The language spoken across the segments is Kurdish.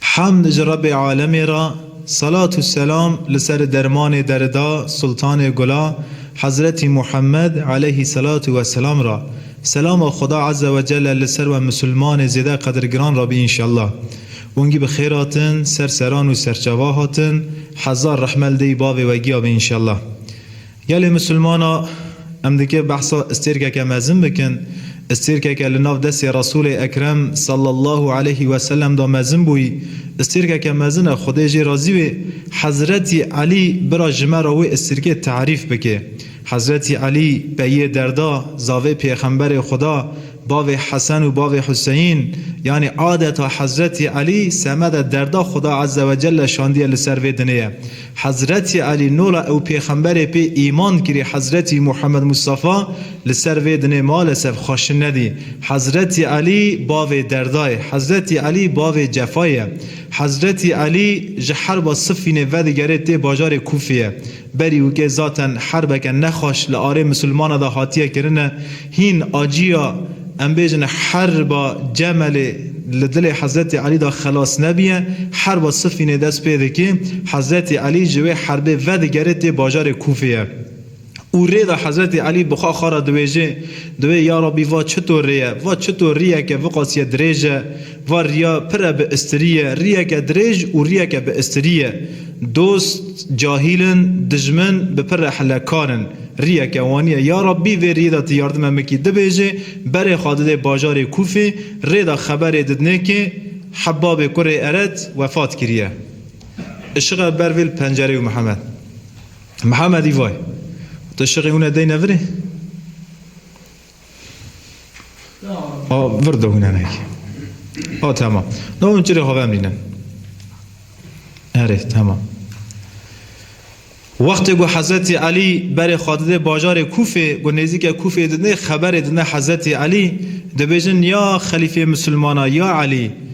Hamd ji Rebê Alemê re, selat û selam li ser dermanê derida Sultanê Gula Hezretî Muhammed eleyhî selatû we selam re. Selama Xweda Eze we Celle li ser we misilmanê zêde qedirgiran re bî înşellah. Wengî bi xêr hatin ser seran û serçava hatin, hezar rehme li dêyî bavê we giya bê înşellah. Gelê Musulman a em dike behsa istêrkeke mezin bikin, istêrkeke li nav destê Resûlê Ekrem sallallahu aleyhî weselem de mezin bûyî, istêrkeke mezin e Xwedê jê razî wê Hezretî Elî bira ji me re wê istêrkê tarîf bike. Hezretî Elî peyiyê derda, zavê Pêxemberê Xweda, bavê Hesen û bavê Huseyîn, yanî adeta Hezretî Elî semede derda Xweda Ezzewecelle şandiye li ser vê dinê ye. Hezretî Elî nola ew pêxemberê pê îman kirî Hezretî Muhammed Mustafa li ser vê dinê malesef xweşin nedî. Hezretî Elî bavê derda ye. Hezretî Elî bavê cefayê ye. Hezretî Elî ji herba Sifînê vedigerê tê bajarê Kûfê ye. Berî wikê zaten herbeke nexweş li arê misilmana de hatiye kirine. Hîn aciya em bêjin herba Cemelê li dilê Hezretî Elî de xelas nebîye. Herba Sifînê dest pê dikê. Hezretî Elî ji wê herbê vedigere tê bajarê Kûfeyê. Û rê de Hezretî Elî bi xwe xwe re diwêjê, diwê, Ya Rabbî va çitor rê ye? Va çitor rîyeke viqasîye dirêj e? Va riya pire bi istirî ye, riyeke dirêj û riyeke bi istirî ye. Dost, cahîl in, dijmin, bi pire helekar in. Riyeke wanî ye, Ya Rabbî vê riyê de ti yardime mikî dibêjê, berê xwe didê bajarê Kûfê, rê de xeberê didinê kê Hebabê kurê Eret wefat kiriye. Işixe ber vê li pencereyê û Mihemed. Mihemedî vay. Tu işiqê hûn e deyne virê? A vir de hûnenek. A tamam. Ne hûn çirê xwe vemrînin. Erê tamam. Wextê ku Hezretî Elî berê xwe didê bajarê Kûfê, ku nêzîke Kûfê didê xeberê didne Hezretî Elî, dibêjin ya xelîfê misilmana ya Elî!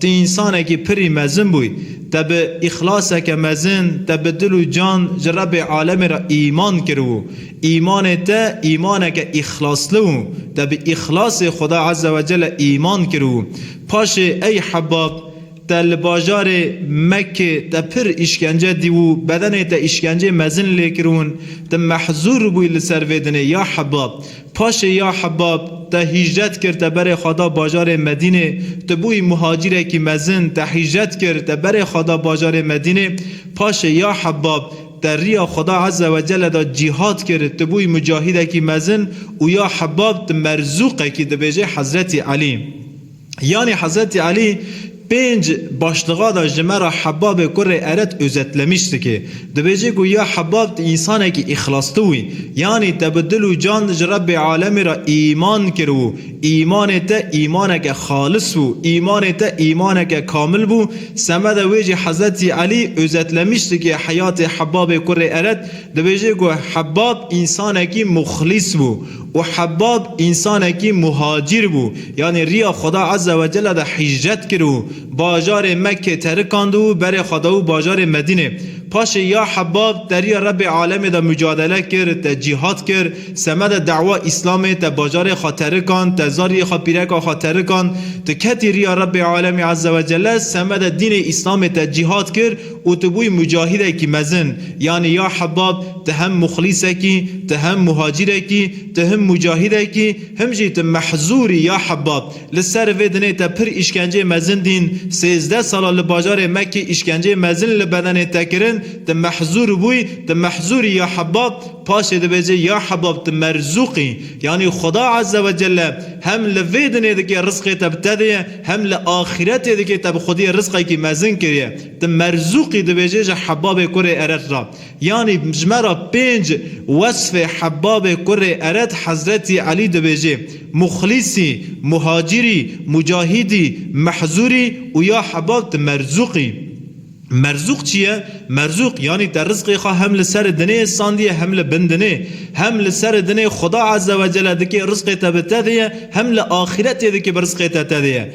Te însanekî pirî mezin bûyî. Te bi îxlaseke mezin, te bi dil û can ji Rebê alemê re îman kiribû. Îmanê te îmaneke îxlasli bû. Te bi îxlasê Xweda Ezze ve Celle îman kiribû. Paşê ey Hebab, te li bajarê Mekkê te pir îşkence dîbû, bedenê te îşkencê mezin lê kiribûn. Te mehzûr bûyî li ser vê dinê ya Hebab. Paşê ya Hebab, te hîcret kir, te berê xwe da bajarê Medînê. Tu bûyî muhacîrekî mezin, te hîcret kir, te berê xwe da bajarê Medînê. Paşê ya Hebab, te riya Xuda Eze we Celle da cîhad kir, tu bûyî mucahîdekî mezin û ya Hebab tu merzûqekî dibêjê Hezretî Elî. Yanî Hezretî Elî pênc başliga da ji me re Hebabê kurê Eret Özetlemiş dike. Dibêje ku ya Hebab tu însanekî îxlastû wî. Yanî te bi dil û can ji Rebbê Alemî re îman kiribû. Îmanê te îmaneke xalis bû. Îmanê te îmaneke kamil bû. Semeda wê jî Hezretî Elî Özetlemiş dike heyatê Hebabê kurê Eret. Dibêje ku Hebab însanekî muxlîs bû. Û Hebbab însanekî muhacîr bû, yanî riya Xweda Ezze we Celle de hîcret kir û bajarê Mekkê terikand û berê xwe da û bajarê Medînê. Paşê ya Hebbab te riya Rebbê Alemê de mucadele kir, te cîhad kir, semedê dewa Îslamê te bajarê xwe terikand, te zarîyê xwe pîreka xwe terikand, tu ketî riya Rebbê Alemê Ezze we Celle, semedê dînê Îslamê te cîhad kir, û tu bûyî mucahîdekî mezin, yanî ya Hebab tu hem muxlîsekî, tu hem muhacîrekî, tu him mucahîdekî, him jî tu mehzûrî ya Hebab. Li ser vê dinê te pir îşkenceyê mezin dîn, sêzdeh sala li bajarê Mekkî îşkenceyê mezin li bedenê te kirin, tu mehzûr bûyî, tu mehzûrî ya Hebab, paşê dibêje ya Hebab tu merzûqî, yanî Xweda Azze ve Celle hem li vê dinê dikê rizqê te bi te diye, hem li axîretê dikê te bi xwediyê rizqekî mezin kiriye. Di Merzûqî dibêje ji Hebabê Kurê Ered re. Yanî ji me re pênc wesfê Hebabê Kurê Ered Hezretî Elî dibêje, Muxlîsî, Muhacîrî, Mucahîdî, Mehzûrî û ya Hebab di Merzûqî. Merzûq çi ye? Merzûq yanî te rizqê xwe hem li serê dinê sandiye hem li bin dinê. Hem li serê dinê Xuda Ezzewecelle dikê rizqê te bi te dêye hem li axîretê dikê bi rizqê te te dêye.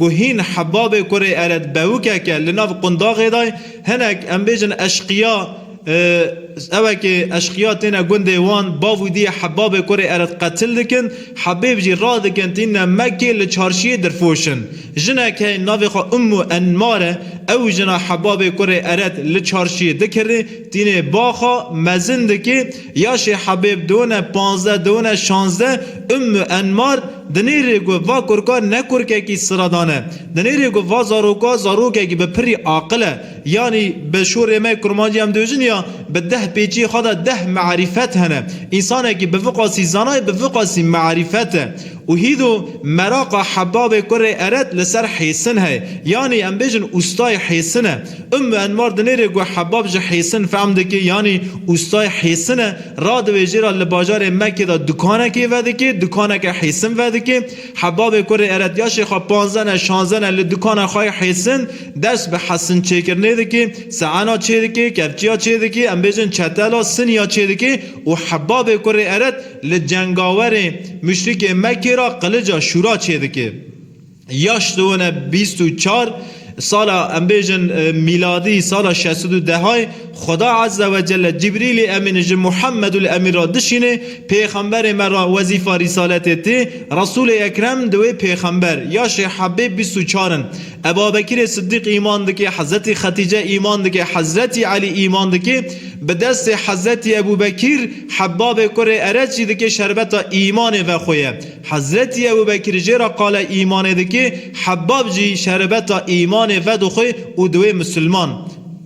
ku hîn hebabê kurê ere dbewikeke li nav qundaxê de hinek em bêjin eşqiya ewekê eşqiya têne gundê wan bav û diyê hebabê kurê ere dqetil dikin hebêb jî radikin tîne me kê li çarşiyê dirfoş in jinek hey navê xwe ummu enmare ew jina hebabê kurê ere li çarşiyê dikirê Tînê baxa mezin dikê ya Şêh Hebêb done panzdeh done şanzdeh Ümmü Enmar dinêrê ku va kurka ne kurkekî sıradan e. Dinêrê ku va zaroka zarokekî bi pirrî aqil e. Yanî bi şorê me kurmancî em diêjin ya bi deh pêçî xwe de deh me'rîfet hene. Însanekî bi viqasî zanayê bi viqasî me'rîfet e. Û hîdo meraqa hebabê kurê eret li ser hêsin heye. Yanî em bêjin ustayê hêsin e. Ummu Enwar dinêrê ku hebab ji hêsin fehm dike yanî ustayê hêsin e. Radibe jê re li bajarê Mekê de dukanekê vedike, dukaneke hêsin vedike. Hebabê kurê eret ya şêxa panzdeh ne şanzdeh ne li dukana xwe yê hêsin ders bi hesin çêkirinê dike, seena çêdike, kevçiya çêdike, em bêjin çetela, siniya çêdike û hebabê kurê eret Li cengawerê muşrikê Mekkê re qilica şûra çêdike. Yaş di wina bîst û çar sala em bêjin mîladî sala şeş sed û dehayê Xweda Ezze Wecelle Cibrîlî Emîn ji Muhammedul Emîn re dişînê, pêxemberê me re wezîfa rîsaletê tê, Resûlê Ekrem di wê pêxember, yaşê hebê bîst û çar in. Ebabekirê Siddîq îman dike, Hezretî Xetîce îman dike, Hezretî Elî îman dike, bi destê Hezretî Ebûbekîr Hebbabê kurê Ereçî dike şerbeta îmanê vexoye. Hezretî Ebûbekîr jê re qale îmanê dike, Hebbab jî şerbeta îmanê vedixwe û diwê misilman.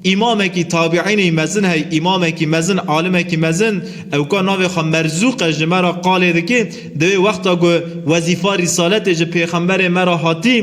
Îmamekî tabîînî mezin hey, îmamekî mezin, alimekî mezin, ewka navê xwe Merzûq e ji me re qalê dike, Di wê wexta ku wezîfa rîsaletê ji pêxemberê me re hatî,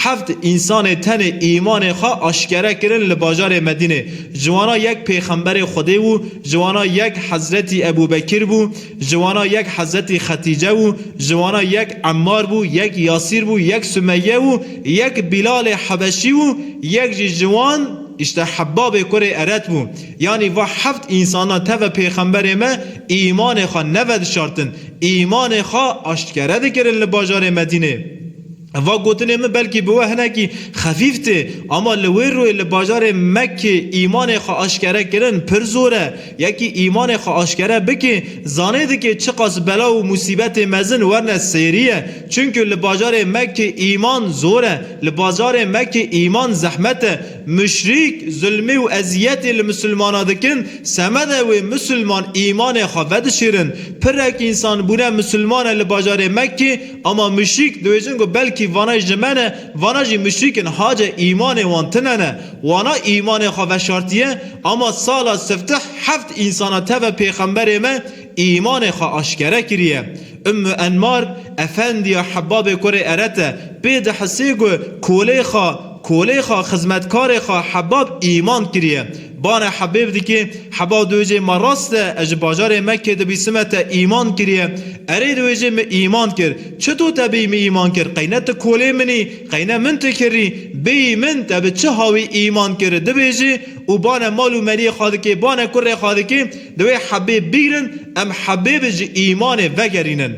heft însanê tenê îmanê xwe aşkere kirin li bajarê Medînê. Ji wana yek pêxemberê Xwedê bû, ji wana yek Hezretî Ebû Bekir bû, ji wana yek Hezretî Xetîce bû, ji wana yek Emmar bû, yek Yasîr bû, yek Sumeyye bû, yek Bîlalê Hebeşî bû, yek jî ji wan, îşte Hebbabê kurê Eret bû. Yanî va heft însanan tevve pêxemberê me îmanê xwe nevedişartin, îmanê xwe aştkere dikirin li bajarê Medînê. Va gotinê min belkî bi we hinekî xefîf tê, ama li wê rûyê li bajarê Mekkê îmanê xwe aşkere kirin pir zor e. Yekî îmanê xwe aşkere bike, zanê dike çiqas bela û musîbetê mezin werne sêrîye. Çimkî li bajarê Mekkê îman zor e, li bajarê Mekkê îman zehmet e. Muşrîk zulmî û eziyetê li musulmana dikin, semede wê musulman îmanê xwe vedişîrin. Pirek însan bûne musulman e li bajarê Mekkê, ama muşrîk diwêjin ku belkî vana ji me ne, vana jî muşrîk in hace îmanê wan tine ne. Wana îmanê xwe veşartiye, ama sala siftih heft însana teve pêxemberê me îmanê xwe aşkere kiriye. Ummû Enmar, efendiya Hebabê Kurê Eret e, pê dihisê ku kolê xwe, kolê xwe, xizmetkarê xwe Hebab îman kiriye. Bane Hebêb dikê, Heba diwêjê me rast e, ez ji bajarê Mekkê dibîsime te îman kiriye. Erê diwêjê min îman kir. Çito te bêyî min îman kir? Qey ne tu kolê min î, qey ne min tu kirî? Bêyî min te bi çi hawî îman kir? dibêjê û bane mal û meriyê xwe dikê, bane kurê xwe dikê. Divê hebê bigrin, em hebê bi ji îmanê vegerînin.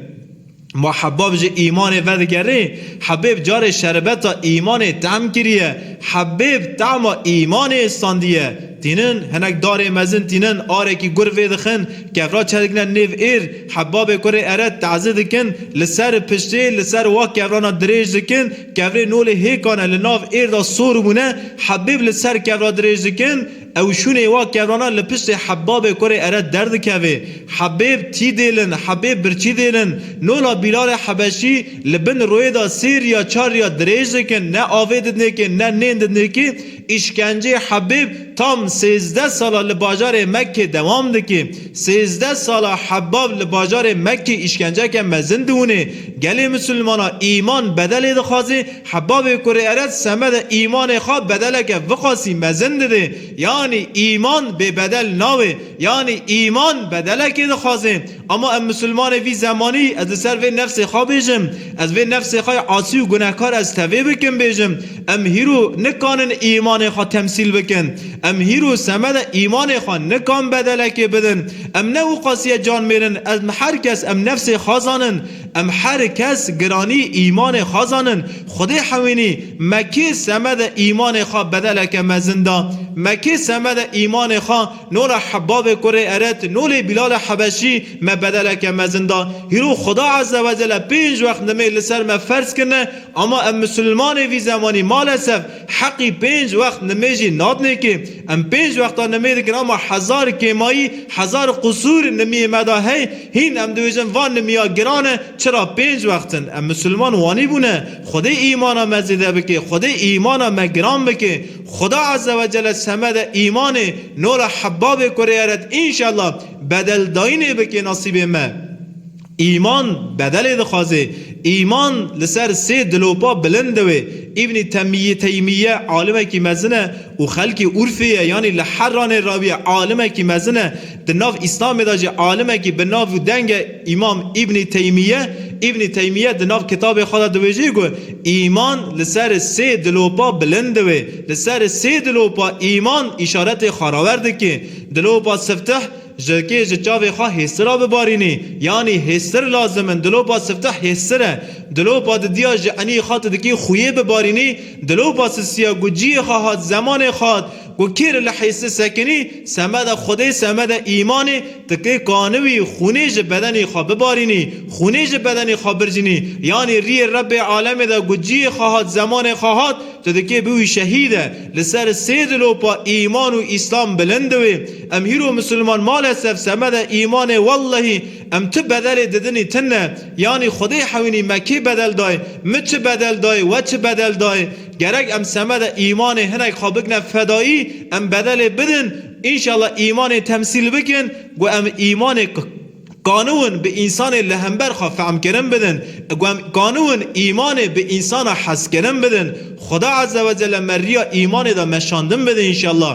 Ma heba bi ji îmanê vedigerê, hebê bi carê şerbeta îmanê tehm kiriye, hebê bi tehma îmanê istandiye. Tînin, hinek darê mezin tînin, arekî gur vêdixin, kevra çedikine nêv êr, heba bê kurê ere tezi dikin, li seri piştê, li ser wa kevrana dirêj dikin, kevrê nolê hêkane li nav êr da sor bûne, hebê bi li ser kevra dirêj dikin, Ew şûnê wa kevana li piştê Hebbabê kurê ere derdikevê. Hebêb tî dêlin, hebêb birçî dêlin. Nola Bîlalê Hebeşî li bin royê da sê riya çar riya dirêj dikin, ne avê didnêkê ne nên didnêkê. Îşkenceyê Hebêb tam sêzdeh sala li bajarê Mekkê dewam dikê. Sêzdeh sala Hebbab li bajarê Mekkê îşkenceke mezin diwinê. Gelê Misilmana îman bedelê dixwazê, Hebabê kurê erez semedê îmanê xwe bedeleke viqasî mezin didê, yanî îman bêbedel nawe, yanî îman bedelekê dixwaze. Ama em misilmanê vî zemanî, ez li ser vê nefsê xwe bêjim, ez vê nefsê xwe yê asî û gunehkar ez tevê bikim bêjim, em hîro nikanin îmanê xwe temsîl bikin, em hîro semedê îmanê xwe nikan bedelekê bidin, em ne wiqasîye can mêrin, em her kes em nefsê xwe zanin, Em her kes giranî îmanê xwe zanin. Xwedê hewînî, me kê semede îmanê xwe bedeleke mezin da? Me kê semede îmanê xwe nola Hebbabê kurê Eret, nolê Bîlalê Hebeşî me bedeleke mezin da? Hîro Xweda Eze Wecele pênc wext nimê li ser me ferz kirine, ama em Misilmanê vî zemanî malesef heqî pênc wext nimê jî nadinê kê. Em pênc wexta nimê dikin ama hezar kêmayî, hezar qusûr nimiyê me de hey. Hîn em dibêjin van nimiya giran e, çira pênc wext in. Em misilman wanîbûne, Xwedê îmana me zêde bike, Xwedê îmana me giran bike. Xuda Ezzewecelle semede îmanê Nora Hebbabê kurêeret înşella bedeldayînê bike nasîbê me. Îman bedelê dixwaze. Îman li ser sê dilopa bilind diwe. Îbnî Temîyî Teymîye alimekî mezin e û xelkê Urfê ye yanî li Herranê re bûye alimekî mezin e. Di nav Îslamê de jî alimekî bi nav û denge Îmam Îbnî Teymîye, Ibn Teymiye, di nav kitabê xwe de diwêjî ku Îman li ser sê dilopa bilind diwê. Li ser sê dilopa Îman îşaretê xarawer dikê. Dilopa Siftih, Jirkê ji çavê xwe hêsira bibarînî. Yanî hêstir lazim in. Dilopa Siftih hêstir e. Dilopa didiya ji enî xwe tu dikî xuyê bibarînî. Dilopa Sisiya ku ciyê xwe hat, zemanê xwe hat, Ku kê li lehêsê sekinî, semeda Xwedê, semeda îmanê, ti kê kaniwî xûnê ji bedenê xwe bibarînî, xûnê ji bedenê xwe bircînî, yanî rîyê Rebbê alemê de ku ciyê xwe hat, zemanê xwe hat, tu dikê biwî şehîd e. Li ser sê dilopa îman û îslam bilind diwê. Em hîro misilman malesef semeda îmanê wellehî em tu bedelê didinî tune. Yanî Xwedê hewînî me kê bedel dayê, min çi bedel dayê, we çi bedel dayê. Gerek em semedê îmanê hinek xwe bikine fedaî, em bedelê bidin, înşallah îmanê temsîl bikin ku em îmanê qanûn bi însanê li hember xwe fehmkirin bidin, ku em qanûn îmanê bi însana hezkirin bidin. Xuda Ezzewecelle me riya îmanê de meşandin bide înşallah.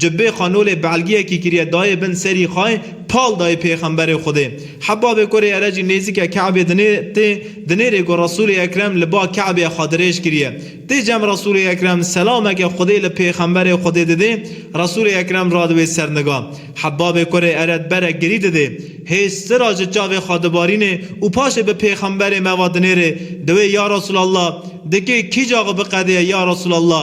Ji bê qanolê belgiyekî kiriye dayê bin serî xay, pal dayê pêxemberê Xwedê. Hebabê kurê ere jî nêzîke Kabê dinê tê, dinê rê ku Resûlê Ekrem li ba Kabê xwe dirêj kiriye. Tê cem Resûlê Ekrem selameke Xwedê li pêxemberê Xwedê didê, Resûlê Ekrem radiwê ser niga. Hebabê kurê ere diberek girî didê. Hêz sira ji çavê xwe dibarînê û paşê bi pêxemberê me va dinê rê, diwê ya Resûlallah, dikê kîja xwe biqedêye ya Resûlallah,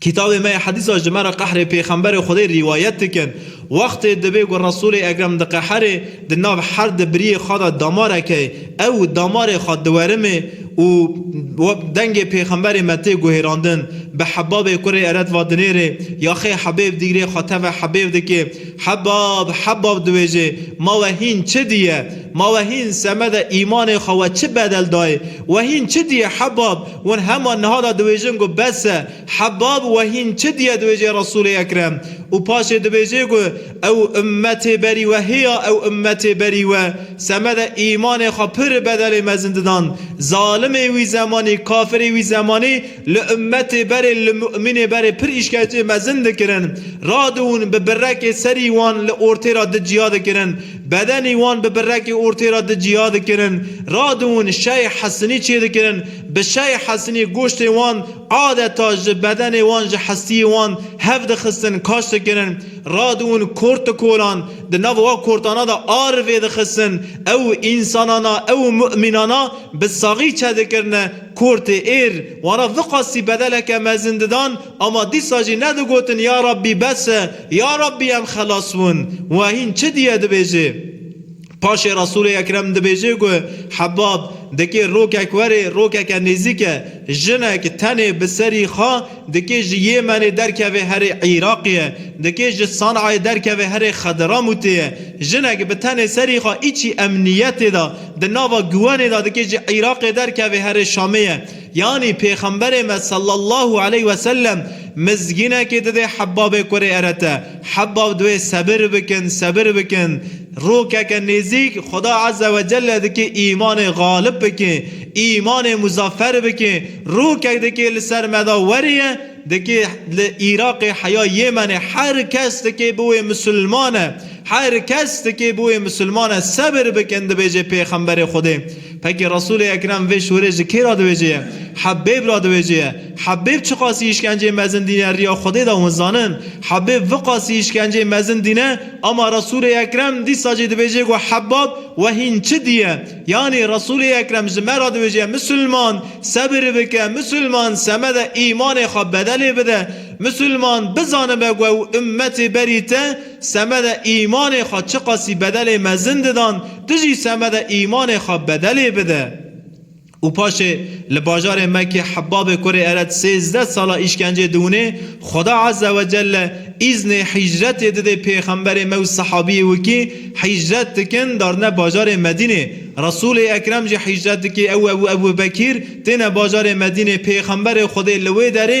Kitabê me yê Hedîsa ji me re qehrê Pêxemberê Xwedê rîwayet dikin, Wextê dibê ku Resûlê Ekrem diqeherê, di nav her di biriyê xwe de damarek heye, ew damarê xwe diwerimê û dengê Pêxemberê me tê guhêrandin, bi Hebabê kurê Eret va dinêrê, Yaxê Hebêb dîgrê xwe teve Hebêb dikê, Hebab, Hebab diwêjê, Ma we hîn çi diye? Ma we hîn semede îmanê xwe we çi bedel dayê? We hîn çi diye Hebab? Hûn hema niha da dibêjin ku bes e, Hebab we hîn çi diye dibêjê Resûlê Ekrem û paşê dibêjê ku ew ummetê berî we hêya ew ummetê berî we semede îmanê xwe pir bedelê mezin didan zalimê wî zemanî kafirê wî zemanî li ummetê berê li mu'mînê berê pir îşkencê mezin dikirin radiûn bi birekê serî wan li ortê ra di ciya dikirin Bedenî wan bi birekî ortê re di cîha dikirin, radiwin şey hesinî çêdikirin, bi şey hesinî goştê wan adeta ji bedenê wan ji hestiyê wan hev dixistin kaş dikirin, radiwin kort dikolan, di nav wa kortana de ar vêdixistin, ew însanana ew mu'mînana bi saxî çedikirine, kortê êr wana viqasî bedeleke mezin didan, ama dîsa jî nedigotin ya Rabbî bes e, Ya Rabbî em xelas win. Wa hîn çi diye dibêjê. Paşê Resûlê Ekrem dibêjê ku Hebab dikê rokek werê rokeke nêzîk e. Jinek tenê bi serî xwe dikê ji Yêmenê derkevê herê Îraqê ye. Dikê ji San'ayê derkevê herê Xedramûtê ye. Jinek bi tenê serî xwe îçî emnîyetê de di nava guwenê de dikê ji Îraqê derkevê herê Şamê ye. Yanî Pêxemberê me sallallahu aleyh we sellem mizgînekê didê Hebbabê kurê Erete. Hebbab diwê sebir bikin, sebir bikin. Rokeke nêzîk Xweda eze we celle dikê îmanê xalib bikê, îmanê muzafer bikê. Rokek dikê li ser me de werîye, dikê li Îraqê heya Yêmenê her kes dikê biwê misilmane. Her kes tikê bûyê misilman e sebir bikin dibêjê pêxemberê Xwedê pekî Resûlê Ekrem vê şorê ji kê ra diwêjê ye? Hebêb ra diwêjê ye. Hebêb çiqasî îşkenceyê mezin dîne riya Xwedê de hûn zanin. Hebêb viqasî îşkenceyê mezin dîne ama Resûlê Ekrem dîsa jî dibêjê ku Hebab we hîn çi dîye. Yanî Resûlê Ekrem ji me ra diwêjê ye misilman sebir bike, misilman semede îmanê xwe bedelê bide, misilman bizanibe ku ew ummetê berî te, semedê îmanê xwe çiqasî bedelê mezin didan, tu jî semedê îmanê xwe bedelê bide. Û paşê li bajarê Mekkê Hebbabê kurê Eret sêzdeh sala îşkencê diwinê, Xuda Azze ve Celle îznê hîcretê didê pêxemberê me û sehabiyê wî kî hîcret dikin darine bajarê Medînê. Resûlê Ekrem jî hîcret dikê ew û Ebûbekîr têne bajarê Medînê, pêxemberê Xwedê li wê derê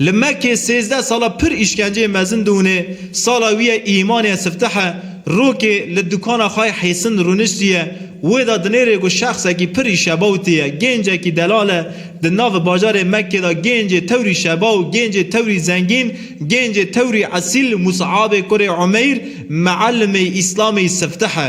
Li Mekkê sêzdeh sala pir îşkenceyê mezin dûnê, sala wî ye îmanê sifteh e, rokê li dukana xwe hêsin rûniştiye, wê de dinêrê ku şexsekî pir î şebaw tê ye, gêncekî delal e, di nav bajarê Mekkê de gêncê tewrî şebaw, gêncê tewrî zengîn, gêncê tewrî esîl Mus'abê kurê Umeyr, Me'ellimê Îslamê sifteh e.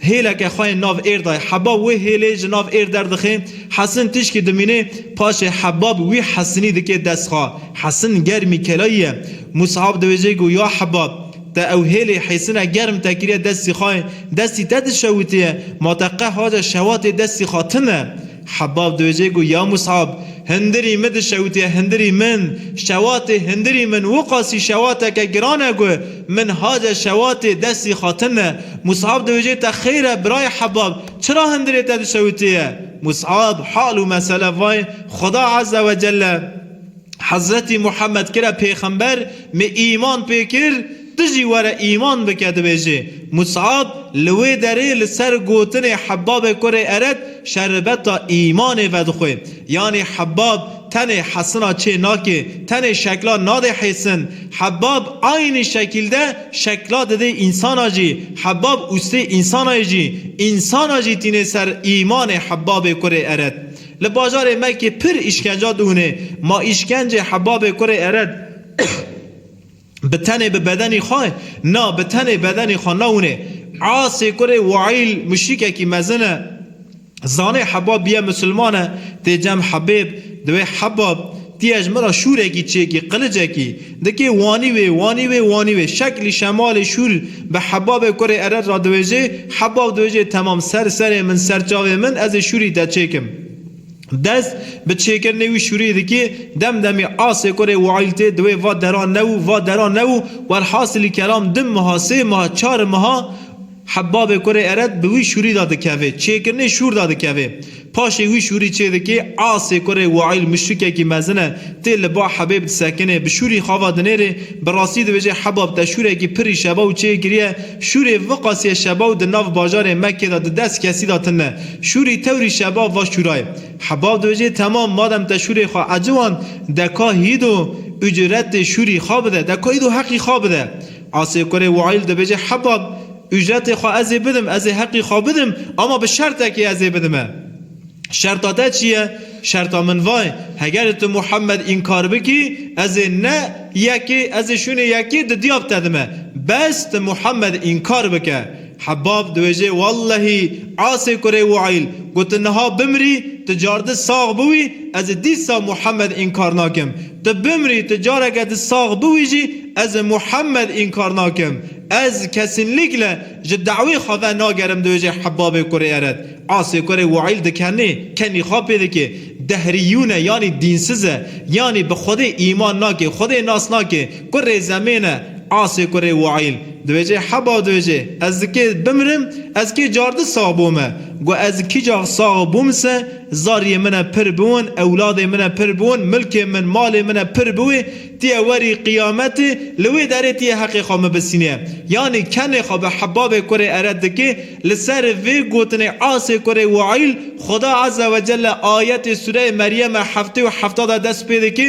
Hêleke xwe yên nav Êrdayê Hebab wê hêlê ji nav Êr derdixe, Hesin tişkî dimîne paşê Hebab wî Hesinî dike destxwe. Hesin germî kelayî ye. Musab diwêje ku ya Hebab, te ew hêlê Hêsine germ te kiriye destî xwe, destî te dişewitiye, ma te qeh aja şewatê destî xwe tune? Hebbab dibêje ku ya Mus'ab, hindirî min dişewitiye hindirî min, şewatê hindirî min wiqasî şewateke giran e ku min hace şewatê destî xatin e. Mus'ab dibêje te xêr e birayê Hebbab, çira hindirê te dişewitiye? Mus'ab, hal û mesele vayê, Xuda Eze we Celle Hezretî Muhammed kir e pêxember, min îman pê kir, Tu jî were îman bike dibêjê. Mus'ab li wê derê li ser gotinê Hebabê kurê Eret şerbeta îmanê vedixwe. Yanî Hebab tenê hesina çê nakê, tenê şekla nadê hêsin. Hebab aynî şekîlde şekla didê însana jî. Hebab ûstê însanayê jî. Însana jî tînê ser îmanê Hebabê kurê Eret. Li bajarê Mekê pir îşkenca dihûnê. Ma îşkencê Hebabê kurê Eret. Bi tenê bi bedenê xwe na, bi tenê bedenê xwe na winê. Asê kurê Waîl muşrîkekî mezin e. Zanê heba bîye musulman e, tê cem hebêb, diwê hebab, tî ye ji min re şûrekî çêkî, qilicekî. Dikê wanî wê, wanî wê, wanî wê. Şeklî şemalê şûr bi hebabê kurê ered ra diwêjê, hebab diwêjê temam ser serê min, ser çavê min, ez ê şûrî te çêkim. Dest bi çêkirinê wî şûrî dikê, dem demê asê kurê wîaîl tê di wê va dera ne û va dera ne û welhasilî kelam di miha sê miha çari miha Hebbabê kurê Eret bi wî şûrî da dikevê, çêkirinê şûr da dikevê. Paşê wî şûrî çê dikê, asê kurê wîaîl muşrikekî mezin e, tê li ba Hebêb disekinê, bi şûrî xava dinêrê, bi rastî dibêjê Hebbab te şûrekî pirî şebaw çê kiriye, şûrê viqasîye şebaw di nav bajarê Mekkê da di dest kesî da tine. Şûrî tewrî şeba va şûrayê. Heba dojê temam madem te şûrê xwe eciwand deka hîdo ucretê şûrî xwe bide, deka hîdo heqî xwe bide. Asê kurê Waîl dibêje heba ucretê xwe ez ê bidim, ez ê heqî xwe bidim ama bi şertekê ez ê bidime. Şerta te çi ye? Şerta min va ye hegerê tu Muhemed înkar bikî ez ê ne yekê ez ê şûnê yekê di diyab te dime. Bes tu Muhemed înkar bike. Hebbab diwêjê wellehî asê kurê wayl ku tu niha bimrî tu cardi sax biwî ez ê dîsa Muhammed înkar nakim. Tu bimrî tu careke di sax biwî jî ez ê Muhammed înkar nakim. Ez kesînlîkle ji dawî xwe ve nagerim diwêjê Hebbabê kurê Eret asê kurê wayl dikenê kenî xwe pê dikê dehrîyûne yanî dînsiz e yanî bi xwedê îman nake xwedê nas nake kurê zemêne asê kurê wayl Dibêje heba dibêje ez di kê bimrim ez kê cardi sax bome gu ez di kîcax sax bûm se zariyê min e pir biwin ewladê min e pir biwin milkê min malê min e pir biwê tiyê werî qiyametê li wê derê tiyê heqê xwe min bisînê yanî kenê xwe bi hebabê kurê ere dikê li ser vê gotinê asê kurê waîl xuda ezewecelle ayetê sûreyê meryeme heftê û hefta de dest pê dikê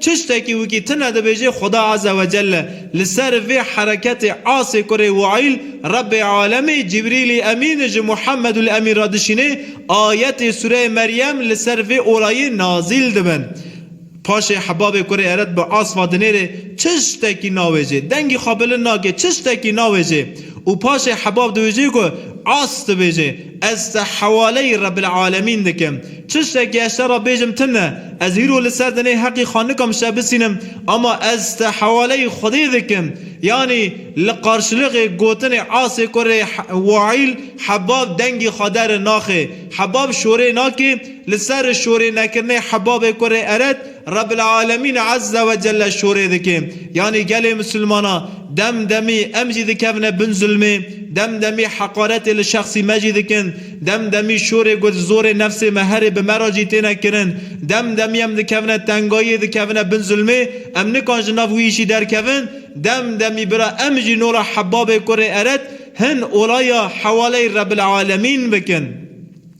Çiştekî wikî tine dibêjê Xuda Azze ve Celle li ser vê hereketê asê kurê Waîl Rebbê Alemê Cibrîlî Emîn ji Muhemedul Emîn re dişînê, ayetê sûreyê Meryem li ser vê olayê nazîl dibin. Paşê Hebabê kurê Eret bi asma dinêrê Çiştekî navêjê. Dengî xwe bilind nake Çiştekî navêjê û paşê Hebab diwêjê ku As dibêjê Ez te hewaleyî Rebbil Alemîn dikim. Çi şekê ez şera bêjim tim e. Ez hîro li ser dinê heqî xanika min şe bisînim ama ez te hewaleyî Xwedê dikim. Yanî li qarşiliqê gotinê asê ku rê Waîl Hebab dengê xwe dere naxê. Hebab şorê nake, li ser şorê nekirinê Hebabê ku rê Eret, Rebbilealemîn Ezze ve Celle şorê dike. Yanî gelê misilmanan dem demî em jî dikevine bin zulmê, dem demî heqaretê li şexsî me jî dikin, dem demî şorê ku di zorê nefsê me herê bi me re jî têne kirin, dem demî em dikevine tengayiyê, dikevine bin zulmê, em nikan ji nav wî îşî derkevin, dem demî bira em jî nola Hebabê kurê Eret hin olaya hewaleyê Rebbilealemîn bikin.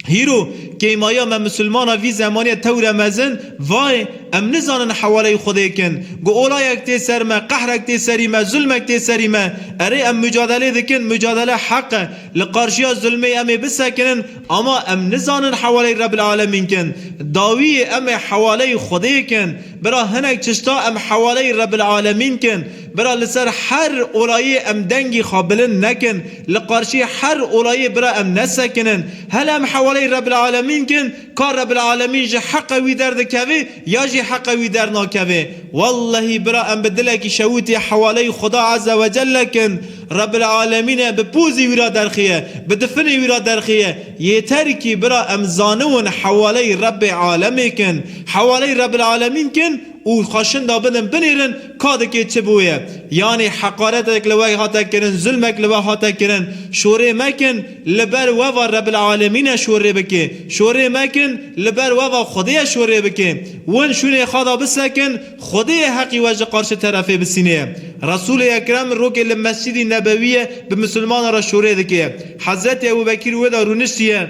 Hîro, keymaya me misilman a vî zemanîye tewre mezin, vayê, em nizanin hewaleyî Xwedê kin. Ku olayek tê ser me, qehrek tê serî me, zulmek tê serî me, erê em mucadelê dikin, mucadele heq e, li qarşîya zulmê em ê bisekinin, ama em nizanin hewaleyî Rebil Alemîn kin. Dawiyê em ê hewaleyî Xwedê kin. Bira hinek çişta em hewaleyî Rebil Alemîn kin. Bira li ser her olayê em dengê xwe bilind nekin, li qarşî her olayê bira em nesekinin. Hela em hewaleyê Rebil Alemîn kin, ka Rebil Alemîn ji heqê wî derdikevê ya jî heqê wî dernakevê. Wellehî bira em bi dilekî şewitê hewaleyê Xuda Eze Wecelle kin, Rebil Alemîn e bi pozê wî ra derxîye, bi difinê wî ra derxîye. Yêter kî bira em zaniwin hewaleyê Rebê Alemê kin, hewaleyê Rebil Alemîn kin, û xwe şinda bidin bilêrin ka dikê çi bûye. Yanî heqaretek li we hate kirin, zilmek li we hate kirin, şorê mekin li ber we va Rebil Alemîne şorê bikê, şorê mekin li ber we va Xwedêye şorê bikê. Win şûnê xwe da bisekin, Xwedêyê heqî we ji qarşi terefê bisînê. Resûlê Ekrem rokê li Mescîdî Nebewîye bi misilmanan re şorê dikê. Hezretî Ebûbekîr wê da rûniştiye.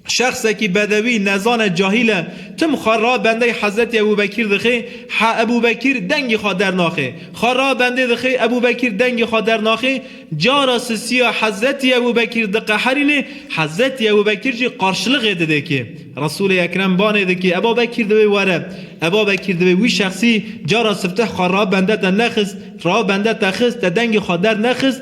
Şexsekî bedewî, nezan e, cahîl e, tim xwe ra bendey Hezretî Ebûbekîr dixê, he Ebûbekîr dengê xwe dernaxê. Xwe ra bendê dixê, Ebûbekîr dengê xwe dernaxê, cara sisîya Hezretî Ebûbekîr diqeherînê, Hezretî Ebûbekîr jî qarşiliqê didê kê. Resûlê Ekrem banê dikê, Ebabekîr divê were. Ebabekîr divê wî şexsî, cara sifteh xwe ra bende te nexist, ra bende te xist, te dengê xwe dernexist,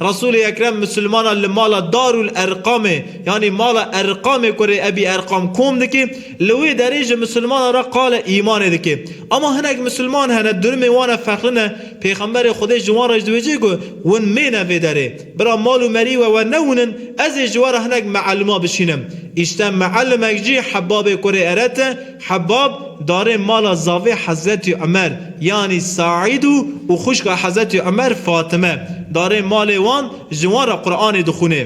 Resûlê Ekrem Mislimanan li mala Darul Erqamê yanî mala Erqamê ku rê Ebî Erqam kom dike, li wê derê ji Mislimanan re qale îmanê dike. Ema hinek Misliman hene durumê wan e ferqlin e, Pêxemberê Xwedê ji wan re ji dibêje ku win mêne vê derê. Bira mal û merî we we newinin, ez ê ji we re hinek meelima bişînim. Îşte meelimek jî hebabê ku rê eret e, Hebab darê mala zavê Hezretî Umer yanî Saîd û û xwişka Hezretî Umer Fatime darê malê wan ji wan re Quranê dixwînê.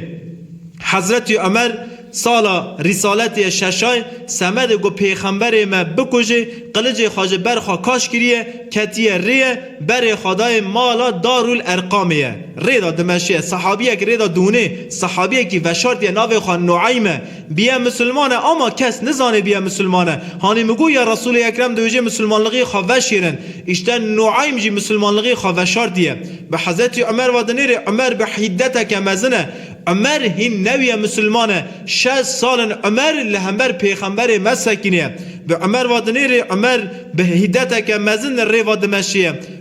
Hezretî Umer sala Rîsaletî ye şeşay semedê ku pêxemberê me bikujê qilicê xwe ji ber xwe kaş kiriye ketiye rêye berê xwe dayê mala Darul Erqamê ye rêda dimeşiye sehabiyek rêda diwinê sehabiyekî veşartiye navê xwe Nueyme Biye musulman e ama kes nizanê biye musulman e. Hanî min got ya Resûlê Ekrem dihêjê musulmanlixî xwe veşêrin. Îşte Nueym jî musulmanlixî xwe veşartiye. Bi Hezretî Umer ve dinêrê Umer bi hîddeteke mezin e. Umer hîn newiye musulman e. Şez sal in Umer li hember pêxemberê me sekinîye. Bi Umer ve dinêrê Umer bi hîddeteke mezin rê ve dimeşiye.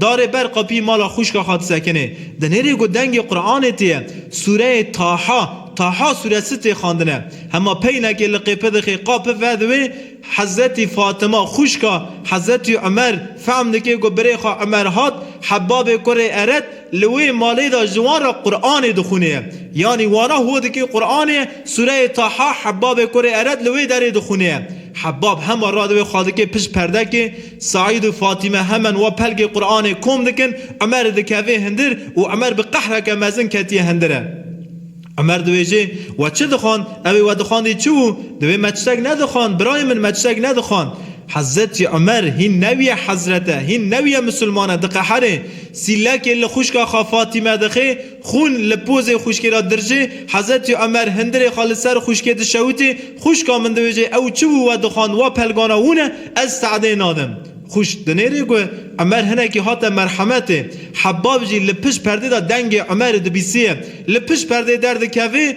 Darê ber qapî mala xwişka xwe disekinê. Di nêrê ku dengê Quranê tê ye, sûreyê Taha, Taha sûresi tê xwendine. Hema peynekê li qêpidixê qa pive di wê, Hezretî Fatima xwişka Hezretî Umer fehm dike ku birê xwe Umer hat, Hebabê kurê Eret li wê malê de ji wan re Quranê dixwîne ye. Yanî wana ho dike Quranê ye, sûreyê Taha Hebabê kurê Eret li wê derê dixwîne ye. Hebab hema ra di wê xwe dike pişt perdekê, Seîd û Fatîme hemen wa pelgê Quranê kom dikin, Emer dikeve hindir û Emer bi qehreke mezin ketiye hindire. Emer diwêjê, We çi dixwand? Ewê we dixwandî çi wû? Divê me tiştek nedixwand, birayê min me tiştek nedixwand. Hezretî Emer hîn newiye hezret e, hîn newiye misilman e, diqeherê. Sîlekê li xwişka xwe Fatîme dixê, Xûn li pozê xwişkê re dirjê, Hezretî Omer hindirê xwe li ser xwişkê dişewitê, Xwişka min dibêje ew çi bû we dixwand wa pelgana hûn e, ez Se'dê nadim. Xwişk dinêrê ku Omer hinekî hate merhemetê. Hebab jî li pişt perdê de dengê Omerê dibîsiye. Li pişt perdeyê derdikevê.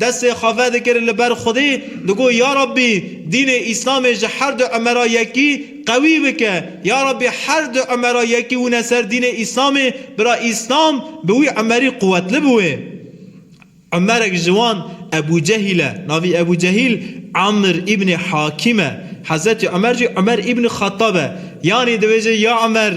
destê xwe vedikir li ber Xwedê, digot, Ya Rabbî, dînê Îslamê ji her du Emera yekî qewî bike. Ya Rabbî her du Emera yekî wine ser dînê Îslamê, bira Îslam bi wî Emerî quwetli bi wê. Emerek ji wan Ebû Cehîl e. Navî Ebû Cehîl Amr îbnê Hakîm e. Hezretî Emer jî Emer îbnî Xettab e. Yanî dibêje, Ya Emer!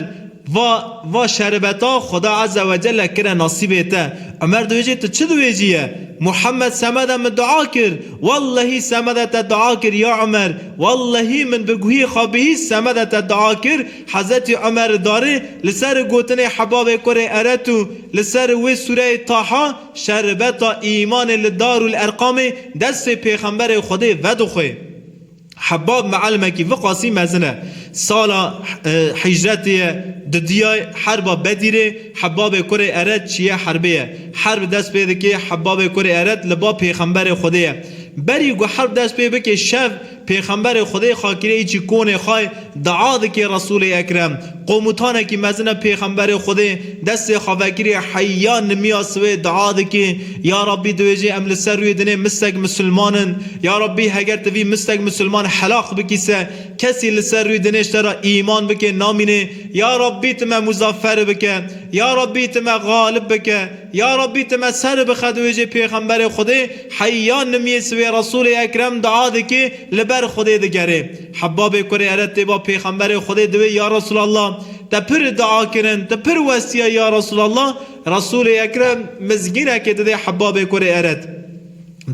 Va, va şerbeta Xuda Ezze ve Celle kire nasîbê te. Umer dibêje tu çi dibêjî ye? Muhammed semede min dua kir. Wellehî semede te dua kir ya Umer. Wellehî min bi guhê xwe bihîst semede te dua kir. Hezretî Umer darê li ser gotinê Hebabê kurê Eret û li ser wê sûreyê Taha şerbeta îmanê li Darul Erqamê destê pêxemberê Xwedê vedixwe. Hebab Mealimekî vi qasî mezin e. Sala hicretê ye di diyay herba Bedîrê Hebabê kurê Eret çiye herbê ye. Herb dest pê dikê Hebabê kurê Eret li ba pêxemberê Xwedê ye. Berî ku herb dest pê bikê şev pêxemberê Xwedê xakireyê çî konê xay dua dikê Resûlê Ekrem Komutanekî mezin e Pêxemberê Xwedê destê xwe vekiriye heyya nimiya siwê dua dike, Ya Rabbî diwêjî em li ser rûyê dinê mistek misilman in. Ya Rabbî heger tu vî mistek misilman helaq bikî se kesî li ser rûyê dinê ji te re îman bike namînê. Ya Rabbî tu me muzaferi bike. Ya Rabbî tu me galib bike. Ya Rabbî tu me seri bixe diwêjê Pêxemberê Xwedê heyya nimiyê siwê Resûlê Ekrem dua dike li ber Xwedê digere. Hebbabê kurê ere têba pêxemberê Xwedê diwê ya Resûlallah te pir dua kirin, te pir westiye ya Resûlallah, Resûlê Ekrem mizgînekê didê Hebbabê kurê eret.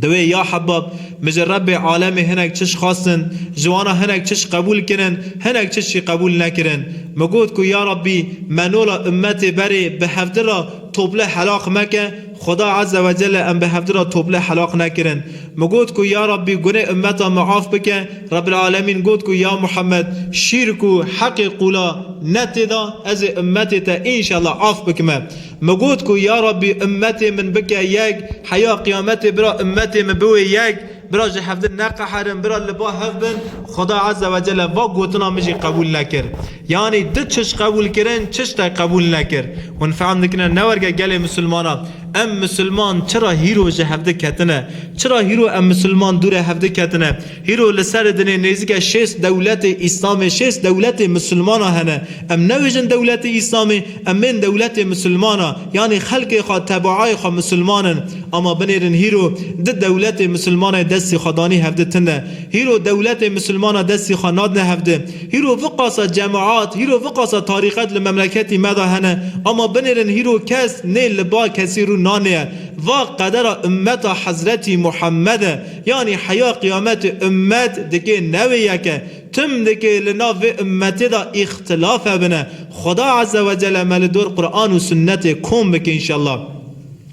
Diwê ya Hebbab min ji Rebbê alemê hinek çiş xwestin, ji wana hinek çiş qebûl kirin, hinek çiş jî qebûl nekirin. Min got ku ya Rebbî me nola ummetê berê bi hevdira tople helaq meke, Xuda Azze ve Celle em bi hevdî re tople helaq nekirin. Min got ku ya Rabbî gunê ummeta min af bike, Rebbil Alemîn got ku ya Muhammed şîrk û heqê qûla ne tê da, ez ê ummetê te înşellah af bikime. Min got ku ya Rabbî ummetê min bike yek, heya qiyametê bira ummetê min biwê yek, Bira ji hevdin neqeherin, bira li ba hev bin, Xuda Ezze ve Celle va gotina min jî qebûl nekir. Yanî du çişt qebûl kirin, çişt te qebûl nekir. Hûn fehm dikine ne werge gelê misilmanan. Em misilman çira hîro ji hevdi ketine? Çira hîro em misilman dûre hevdi ketine? Hîro li serê dinê nêzîke şêst dewletê Îslamê, şêst dewletê misilmanan hene. Em newêjin dewletê Îslamê. Em bên dewletê misilmana, yanî xelkê xwe tebaayê xwe misilman in, ama binêrin hîro di dewletê misilmanayê destî xwe danî hevdi tinde. Hîro dewletê misilmana destî xwe nadine hevdi. Hîro viqasa cemaat, hîro viqasa tarîqet li memleketî me de hene, ama binêrin hîro kes nê li ba kesî rû nanêye. Va qedera ummeta Hezretî Muhammed e, yanî heya qiyametê ummet dikê newê yek e. Tim dike li nav vê ummetê de îxtilaf hebine. Xweda Eze we Cele me li dor Quran û Sunnetê kom bike înşallah.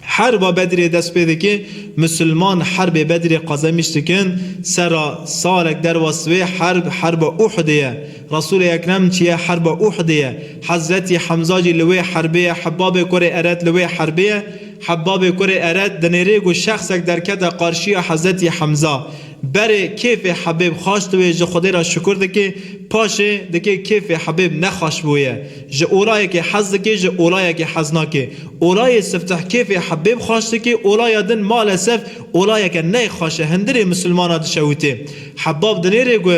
Herba Bedrê dest pê dike, Musulman herbê Bedrê qezemiş dikin, sera salek derwest vê herb herba Uhudê ye. Resûlê Ekrem çiye herba Uhudê ye. Hezretî Hemza jî li wê herbê ye, Hebbabê Kurê Eret li wê herbê ye. Hebbabê Kurê Eret dinêrê ku şexsek derkete qarşiya Hezretî Hemza. Berê kêfê Hebêb xweş diwê ji Xwedê re şikur dike, paşê dike kêfê Hebêb ne xweş bûye. Ji olayekê hez dike ji olayekê hez nake. Olayê sifteh kêfê Hebêb xweş dike, olaya din malesef olayeke neyê xweş e, hindirê misilmana dişewite. Hebab dinêre ku.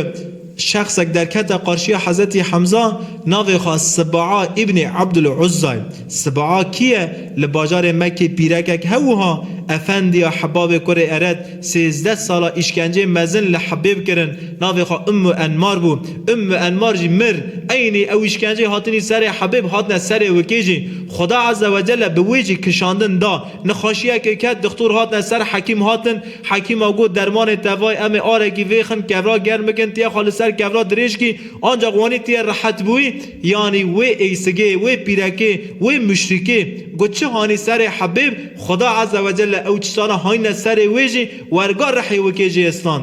Şexsek derkete qarşiya Hezretî Hemza, navê xwe Sibaa Îbnê Ebdul Uzza ye. Sibaa kî ye? Li bajarê Mekkê pîrekek he wiha, efendiya Hibabê kurê Ered, sêzdeh sala îşkenceyê mezin li Hibêb kirin, navê xwe Ummu Enmar bû. Ummu Enmar jî mir. Eynî ew îşkenceyê hatinî serê Hibêb hatine serê wikê jî. Xuda Ezzewecelle bi wê jî kişandin da. Nexweşiyekê ket, dixtor hatine ser hekîm hatin, hekîma got dermanê tevay em ê arekî vêxin kevra germ bikin, tê xwe li ser kevra dirêj kî ancaq wanî tê rehet bûyî, yanî wê êysigê, wê pîrekê, wê muşrîkê ku çi hanî serê hebêb, Xweda Ezzewecelle ew çi sana hanîne serê wê jî werga rihê wikê jê istan.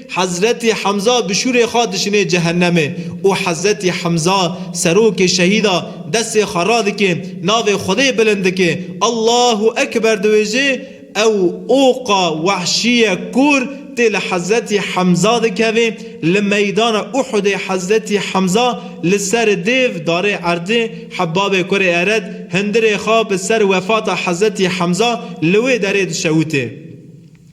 Hezretî Hemza bi şûrê xwe dişinê cehennemê û Hezretî Hemza serokê şehîda destê xwe radike navê Xwedê bilind dike Allahu Ekber diwêje ew oqa wehşîye kor tê li Hezretî Hemza dikeve li meydana Uhudê Hezretî Hemza li ser dêv darê erdê Hebabê kurê Ered hindirê xwe bi ser wefata Hezretî Hemza li wê derê dişewite.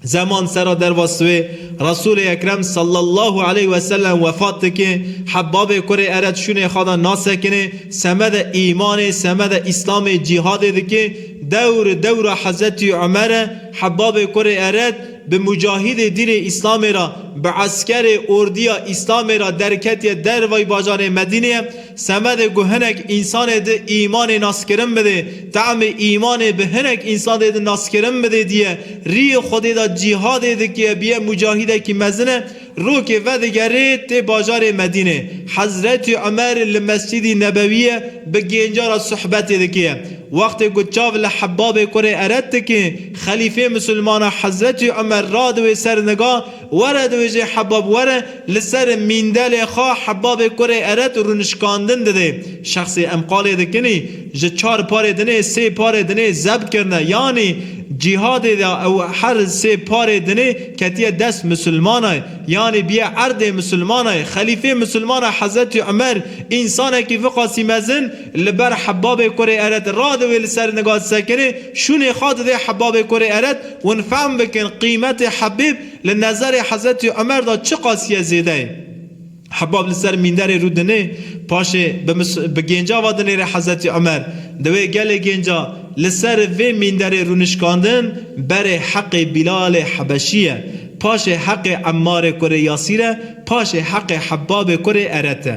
Zeman sera dervas wê Resûlê Ekrem sallallahu aleyh ve sellem wefat dike, Hebbabê kurê Eret şûnê xwe de nasekine, semede îmanê, semede îslamê cîhadê dike, dewr dewra Hezretî Umer e, Hebbabê kurê Eret bi mucahîdê dînê îslamê re, bi eskerê, ordiya, îslamê re derketiye derveyî bajarê Medîneyê, Semedê ku hinek însanê di îmanê naskirin bidê, temê îmanê bi hinek însanê di naskirin bidê diye, rîyê Xwedê de cîhadê dike, biye mucahîdekî mezin e, rokê vedigerê tê bajarê Medînê. Hezretî Umer li Mescîdî Nebewîye bi gêncan re suhbetê dike. Wextê ku çav li Hebabê kurê Eret dike, xelîfê misilmanan Hezretî Umer radiwê ser niga, Were dibêje Hebab were, li ser mîndelê xwe Hebabê kurê Eret rûnişkandin didê. Şexsê em qalê dikinî, ji çar parê dinê sê parê dinê zebt kirine. Yanî cîhadê de ew her sê parê dinê ketiye dest misilmanay. Yanî biye erdê misilmanay. Xelîfê misilmanay Hezretî Umer, însanekî viqasî mezin, Li ber Hebabê Kurê Eret ra divê li ser niga di sekinê şûnê xwe didê Hebabê Kurê Eret hûn fehm bikin qîmetê Hebêb li nezerê Hezretî Omer de çi qasîye zêde ye. Hebab li ser mînderê rû dinê paşê bi bi gênca ve dinêre Hezretî Omer diwê gelê gênca li ser vê mînderê rûnişkandin berê heqê Bîlalê Hebeşî ye paşê heqê Emmarê Kurê Yasîr e paşê heqê Hebabê Kurê Eret e.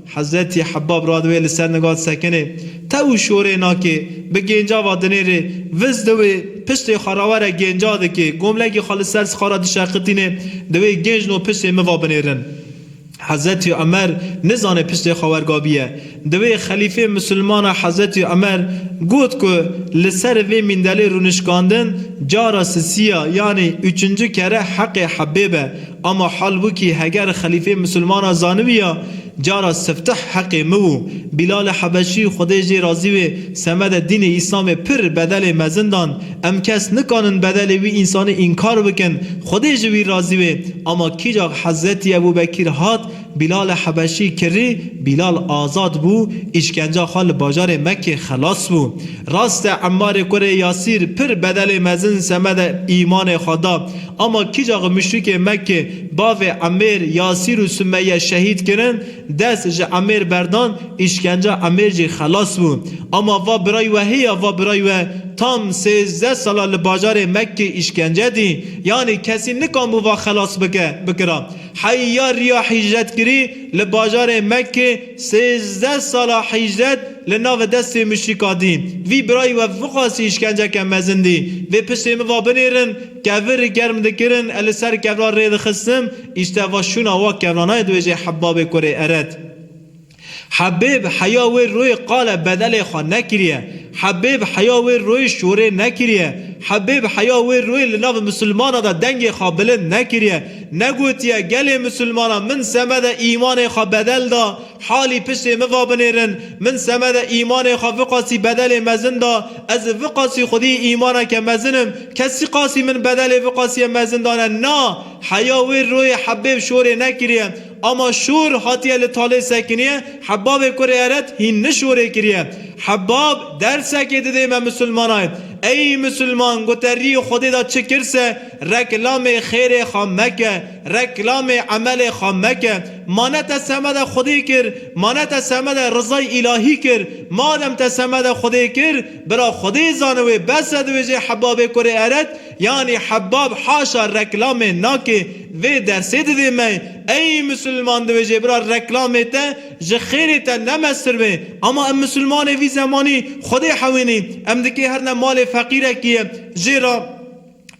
Hezretî Hebab radivê li ser nigat sekinê, tew û şorê nakê, bi gênca va dinêrê, viz di wê, piştê xwe rawere gênca dikê, gomlekê xwe li ser sixara dişeqitînê, divê gênc no piştê min va binêrin. Hezretî Umer nizanê piştê xwe wergabiye. Divê xelîfê misilman a Hezretî Umer got ku li ser vê mîndelê rûnişkandin cara sisî ya, yanî uçuncu kere heqê Hebêb e. Ama hal wikî heger xelîfê misilmana zanibîya cara siftih heqê mi wû. Bîlalê Hebeşî, Xwedê jê razî wê, semedê dînê Îslamê pir bedelê mezin dan. Em kes nikanin bedelê wî însanî înkar bikin. Xwedê ji wî razî wê. Ama kîjak Hezretî Ebûbekîr hat, Bîlale Hebeşî kirî, Bîlal azad bû, îşkenca xwe li bajarê Mekkê xelas bû. Rast e Emmarê kurê Yasîr pir bedelê mezin semede îmanê xwe da. Ama kîcax muşrikê Mekkê bavê Emmêr, Yasîr û Sumeye şehîd kirin, dest ji Emmêr berdan, îşkenca Emmêr jî xelas bû. Ama va birayî we hê ya va birayî we tam sêzdeh sala li bajarê Mekkê îşkence dî, yanî kesî nikanbû va xelas bike, bikira. Heyariya hîcretkirî li bajarê Mekkê sêzdeh sala hîcret li navê destê muşrîka dî. Vî birayî we vixwest îşkenceke mezin dî. Vê piştê min va binêrin, kevir germ dikirin e li ser kevran rê dixistim, îşte va şûna wa kevranayê dibêje Hebabê kurê Eret. Hebêb heya wê royê qale bedelê xwe nekiriye, hebêb heya wê royê şorê nekiriye, hebêb heya wê royê li nav misilmana de dengê xwe bilind nekiriye, negotiye gelê misilmanan min semede îmanê xwe bedel da, halî piştê min va binêrin, min semede îmanê xwe viqasî bedelê mezin da, ez ê viqasî xwedî îmaneke mezin im, kesî qasî min bedelê viqasiye mezin dane, na, heya wê royê hebêb şorê nekiriye. Ama şor hatiye li talê sekiniyê Hebabê kurê Eret hîn ni şorê kiriye. Hebab dersekê didê me misilmanayê. Ey misilman gote rî Xwedê da çi kir se reklamê xêrê xwe meke, reklamê emelê xwe meke. Ma ne te semede Xwedê kir, ma ne te semede rizay îlahî kir. Madem te semede Xwedê kir, bira Xwedê zani wê bes e diwêjê Hebabê kurê Eret, Yanî Hebab haşa reklamê nake vê dersê didê me ey misilman divê jê bira reklamê te ji xêrê te ne mestir be ama em misilmanê vî zemanî xwedê hewînî em dikê her ne malê feqîrekî ye jê ra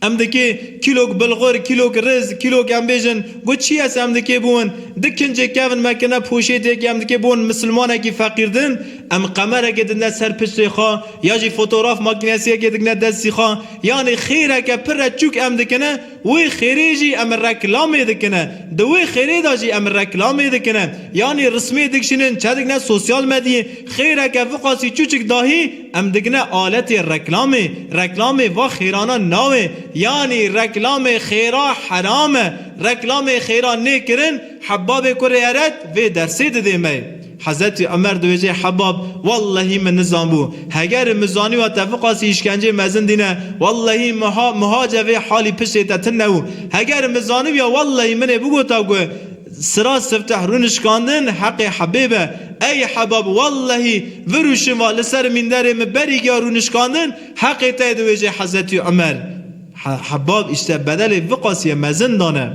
em dikê kîlok bilxur kîlok riz kîlok em bêjin gu çî ye se em dikê bûn di kincê kevin me kine poşêtêkî em dikê bûn misilmanekî feqîr din em qemerekê didine ser piştê xwe ya jî fotograf makînesiyekê dikine destî xwe Yanî xêreke pir re çûk em dikine, wê xêrê jî em reklamê dikine. Di wê xêrê de jî em reklamê dikine. Yanî rismê dikşînin, çedikine sosyal medyê, xêreke viqasî çûçik dahî em dikine aletê reklamê. Reklamê va xêranan nawe. Yanî reklamê xêra heram e. Reklamê xêra nêkirin, Hebbabê Kurê Eret vê dersê didê me. Hezetî Omer dibêje Hebab, wellehî min nizanbû. Hegerî min zanîwa te viqasî îşkenceyê mezin dîne. Wellehî min ha mihace vê halî piştê te tune û hegerî min zanîbîya wellehî min ê bigota ku sira sifteh rûnişkandin heqê Hebêb e. Ey Hebab wellehî vir û şiva li ser mînderê min berî giya rûnişkandin heqê te ye dibêje Hezetî Omer. Hebab îşte bedelê viqasîye mezin dane.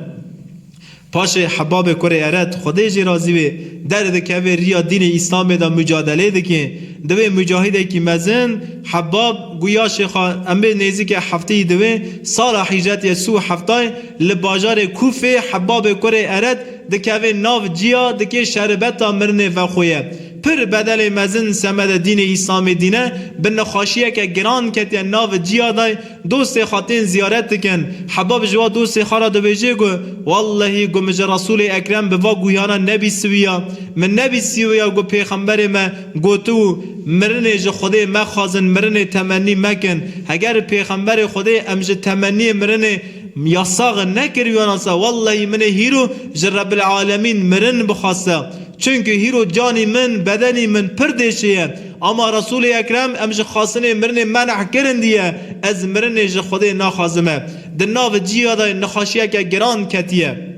Paşê Hebabê Kurê Eret, Xwedê jî razî wê, derdikeve riya dînê Îslamê de mucadelê dike. Di wê mucahîdekî mezin, Hebab, guya Şêxa Emrê nêzîke hefteyî di wê sala hîcretiye si û heftayê li bajarê Kûfê Hebabê Kurê Eret dikeve nav ciya dike şerbeta mirinê vexwe ye. Pir bedelê mezin semede dînê Îslamê dîne bi nexaşiyeke giran ketiye nav ciya de Dostê xwe tên ziyaret dikin. Hebab ji wa dostê xwe re dibêje ku, Wellehî ku min ji Resûlê Ekrem bi va guhiyana nebîsiviya. Min nebîsiviya ku pêxemberê me gotiû, Mirinê ji Xwedê mexwazin, mirinê temennî mekin. Heger pêxemberê Xwedê em ji temenniyê mirinê yasax nekiriwiyanase, wellehî min ê hîro ji Rebbil Alemîn mirin bixweste. Çunku hîro canî min, bedenî min pir dê çêye. Ama Resûlê Ekrem em ji xastinê mirinê meneh kirin diye, ez mirinê ji Xwedê naxazime. Di nav cîya de nexaşiyeke giran ketiye.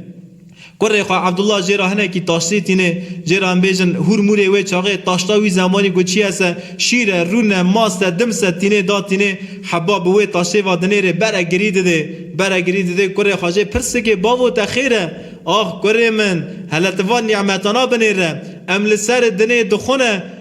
Kurê xwe Ebdullah jê re hinekî taştê tîne, jê re em bêjin hûr mûrê wê çaxê taşta wî zemanî ku çiye se, şîr e, rûn e, mast e, dims e, tînê da tînê. Heba bi wê taştê ve dinêrê bere girî didê. Bere girî didê kurê xwe jê pirsikê bavo te xêr e? Ax kurê min, hele ti van nîmetana binêre. Em li ser dinê dixwine.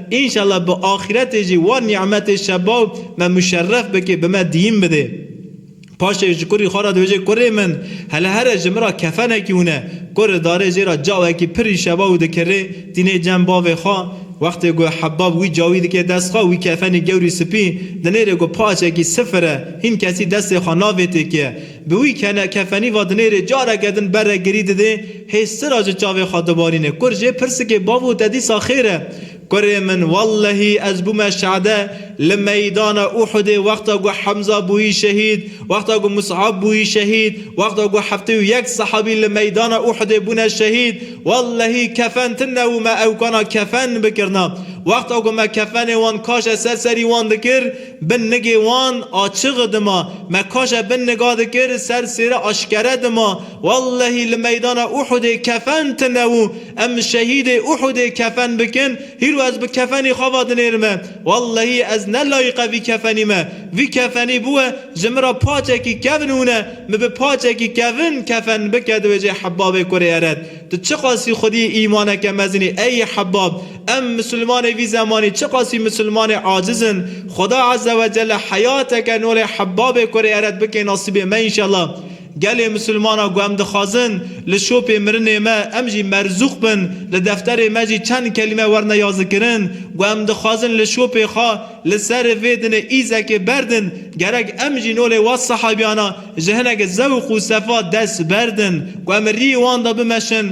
Înşallah bi axiretê jî wan nî'metê şebaw me muşerref bikê bi me diyîn bidê. Paşê ji kurî xwe re dibêje Kurê min, hele here ji min re kefenekî hûne. Kurê darê jê re cawekî pirî şebaw dikirê, tînê cem bavê xwe. Wextê ku hebav wî cawî dikê dest xwe, wî kefenî gewrî sipî dinêrê ku paçekî sifir e, hîn kesî destê xwe navêtê kê. Bi wî kene kefenî va dinêrê careke din bere girî didê hê sira ji çavê xwe dibarîne. Kur jê pirsikê bavo te dîsa xêr e? Kurê min wellehî ez bûme şehde li meydana Uhudê wexta ku Hemza bûyî şehîd, wexta ku Mus'ab bûyî şehîd, wexta ku heftê û yek sehabî li meydana Uhudê bûne şehîd wellehî kefen tine û me ewkana kefen bikirina. Wexta ku me kefenê wan kaşe ser serî wan dikir, Bin nigê wan a çiği dima me kaje bin niga dikir ser sêre aşkere dima wellehî li meydana Uhudê kefen tine û em şehîdê Uhudê kefen bikin hîro ez bi kefenî xava dinêrime wellehî ez ne layiqe vî kefenî me vî kefenî bûe ji min ra paçekî kevn hûne min bi paçekî kevn kefen bike di wêjê Hebabê kurê eret tu çiqasî xwediyê îmaneke mezinî ey Hebab Em Musulmanê vî zemanî çiqasî Musulmanê aciz in, Xweda Eze we Celle heyateke nû lê hebabê kurê eret bike nasîbê me înşallah. Gelê Musulmana ku em dixwazin li şopê mirinê me em jî merzûq bin, li defterê me jî çend kelîme werne yazikirin ku em dixwazin li şopê xwe li ser vê dinê îzekê berdin, gerek em jî nû lê wek sehebiyana ji hinekî zewq û sefa dest berdin ku em rî wan de bimeşin.